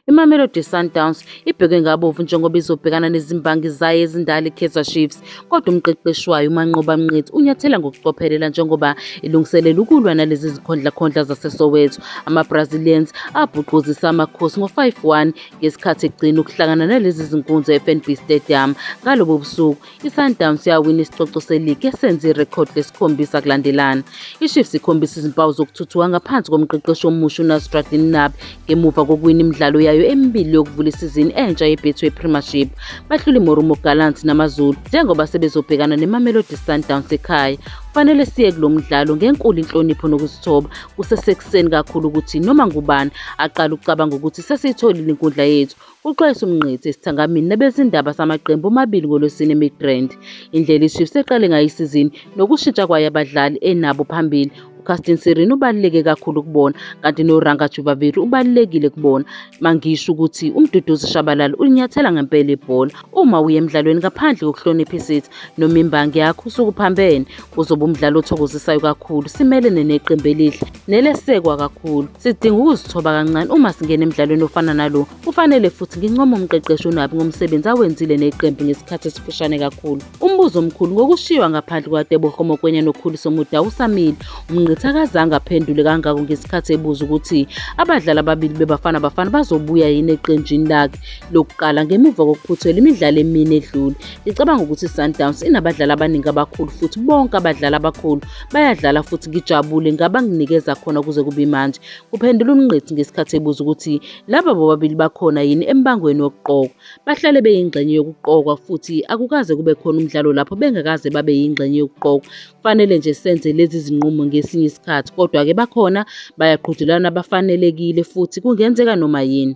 IMamelodi Sundowns ibhekwe ngabovu njengoba izobhekana nezimbangi zayo ezindala iKaizer Chiefs kodwa umqeqeshi wayo uManqoba Mnqithi unyathela ngokucophelela njengoba ilungiselela ukulwa nalezi zikhondlakhondla zaseSoweto. AmaBrazilians abhuquzisa amakhosi ngo-5-1 ngesikhathi egcina ukuhlangana nalezi zinkunzi eFNB Stadium ngalobo busuku ISundowns yawina isicoco seligi esenze irekhodi lesikhombisa kulandelana. IChiefs ikhombisa izimpawu zokuthuthuka ngaphansi komqeqeshi omusha uNasruddin Nabi ngemuva kokuwina imidlalo yayo emibili yokuvula isizini entsha yeBetway Premiership. Bahlula iMorumo Gallants namaZulu njengoba sebezobhekana neMamelodi Sundowns ekhaya. Kufanele siye kulo mdlalo ngenkulu inhlonipho nokuzithoba kusesekuseni kakhulu ukuthi noma ngubani aqale ukucabanga ukuthi sesiyitholile inkundla yethu, Uxwayisa uMngqithi esithangamini nabezindaba samaqembu omabili ngoLwesine eMidrand. Indlela iChiefs eqale ngayo isizini nokushintsha kwayo abadlali enabo phambili uCastin Sirino ubaluleke kakhulu kubona kanti noRanga Jubaviri ubalulekile kubona mangisho ukuthi uMduduzi Shabalala ulinyathela ngempela ibhola uma uye emdlalweni ngaphandle kokuhlonipha isithi noma imbangi yakho usukuphambene kuzoba umdlalo othokozisayo kakhulu simelene neqembu elihle nelesekwa kakhulu. Sidinga ukuzithoba kancane uma singena emdlalweni ofana nalo. Kufanele futhi ngincome umqeqeshi uNabi ngomsebenzi awenzile neqembu ngesikhathi esifushane kakhulu. Umbuzo omkhulu ngokushiywa ngaphandle kwaTebogo Mokoena noKhuliso Mudau usamile. UMngqithi akazange aphendule kangako ngesikhathi ebuza ukuthi abadlali ababili beBafana Bafana bazobuya yini eqenjini lakhe lokuqala ngemuva kokuphuthela imidlalo emine edlule. Ngicabanga ukuthi iSundowns inabadlali abaningi abakhulu futhi bonke abadlali abakhulu Bayadlala futhi ngijabule ngabanginikeza khona kuze kube manje, kuphendula uMngqithi ngesikhathi ebuza ukuthi laba bobabili bakhona yini embangweni wokuqokwa. Bahlale beyingxenye yokuqokwa futhi akukaze kube khona umdlalo lapho bengakaze babe yingxenye yokuqokwa. Kufanele nje senze lezi zinqumo ngesinye isikhathi, kodwa-ke bakhona bayaqhudelana bafanelekile futhi kungenzeka noma yini.